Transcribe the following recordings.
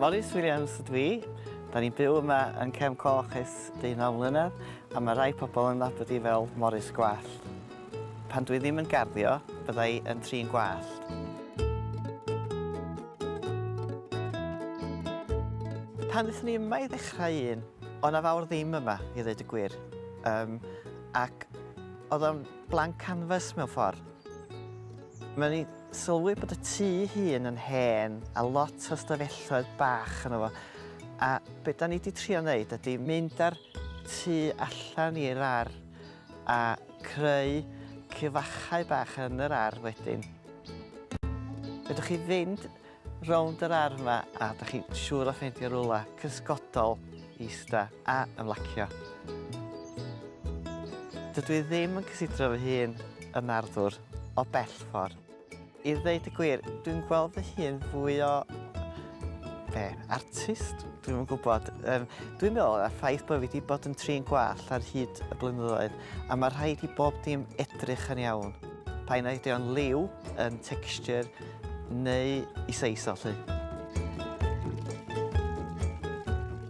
Morris Williams ydw i. Da ni'n byw yma yn Cefn Coch ers deunaw mlynedd a mae rhai pobl yn nabod i fel Morris Gwallt. Pan dwi ddim yn garddio, bydda i yn trin gwallt. Pan ddethon ni yma i ddechrau un, O' 'na fawr ddim yma i ddeud y gwir yym ac o'dd o'n blank canvas mewn ffor. Mae o'n i sylwi bod y tŷ ei hun yn hen a lot o ystafelloedd bach yno fo a be' 'dan ni 'di trio neud ydi mynd â'r tŷ allan i'r ar' a creu cyfachau bach yn yr ar' wedyn. Fedrwch chi fynd rownd yr ardd 'ma a 'dach chi'n siŵr o ffeindio rwla cysgodol i ista a ymlacio. Dydw i ddim yn cysidro fy hun yn arddwr o bell ffordd. I ddeud y gwir, dwi'n gweld fy hun fwy o... be? Artist? Dwi'm yn gwybod. Um, dwi'n meddwl y ffaith bod fi wedi bod yn trin gwall ar hyd y blynyddoedd a mae rhaid i bob dim edrych yn iawn. Pa'n ydy o'n liw, yn texture, Neu i seis o, 'lly.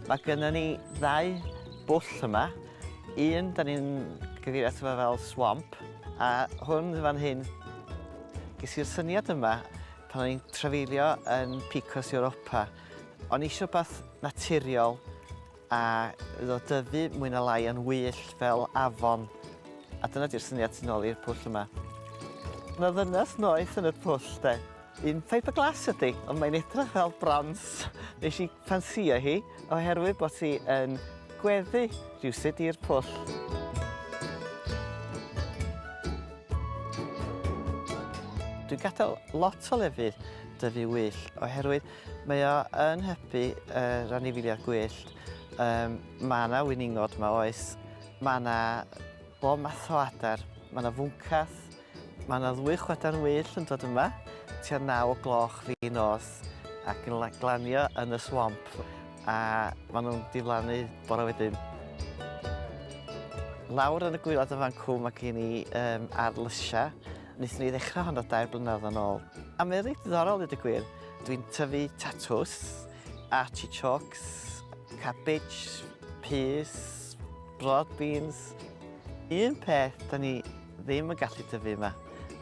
Mae gynnon ni ddau bwll yma. Un, da ni'n gyfeirio ato fo fel swamp, a hwn fan hyn, ges i'r syniad yma pan o'n i'n trafeilio yn Picos Europa. O'n i eisiau rhywbeth naturiol, A iddo fo dyfu mwy na lai yn wyllt fel afon. A dyna di'r syniad tu nôl i'r pwll yma. Mae 'na ddynes noeth yn y pwll 'de. Un fiberglass ydi, ond mae'n edrych fel brons. Nesh i ffansïo hi oherwydd bod hi yn gweddu rywsut i'r pwll. Dwi'n gadel lot o lefydd dyfu wyllt oherwydd Mae o yn hybu yr anifeiliaid gwyllt. Yym ma' 'na winingod 'ma oes, ma' 'na bob math o adar, ma' 'na fwncath, ma' 'na ddwy chwadan wyllt yn dod yma tua naw o gloch fin nos ac yn la- glanio yn y swamp a ma' nhw'n diflannu bore wedyn. Lawr yn y gwaelod yn fan 'cw ma' gen i yym ardd lysia, nethon ni ddechra honno dair blynadd yn ôl a mae o reit ddiddorol ddeud y gwir. Dwi'n tyfu tatws, artichokes, cabbage, peas, broad beans. Un peth da ni ddim yn gallu tyfu yma,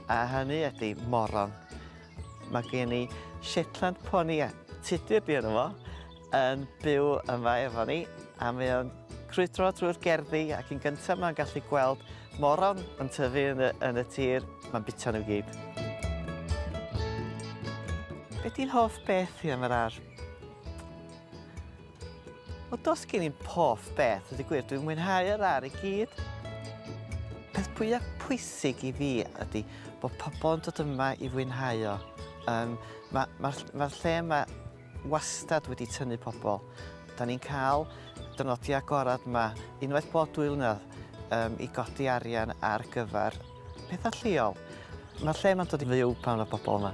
a hynny ydy moron. Mae gen i Shetland pony a tudur di yno fo, yn byw yma efo ni a mae o'n crwydro trwy'r gerddi ac yn gyntaf mae'n gallu gweld moron yn tyfu yn y, yn y tir, mae'n bita nhw gyd. Be ti'n hoff beth ti am yr ar? O dos gen i'n poff beth, ydy gwir, dwi'n mwynhau yr ar i gyd. Peth pwyaf pwysig i fi ydy bod pobl yn dod yma i fwynhau o. Um, Mae'r ma, ma, ma lle yma wastad wedi tynnu pobl. Da ni'n cael dynodiau agored yma unwaith bob dwy flynedd um, i godi arian ar gyfer pethau lleol. Mae'r lle yma'n dod i fyw pan mae pobl yma.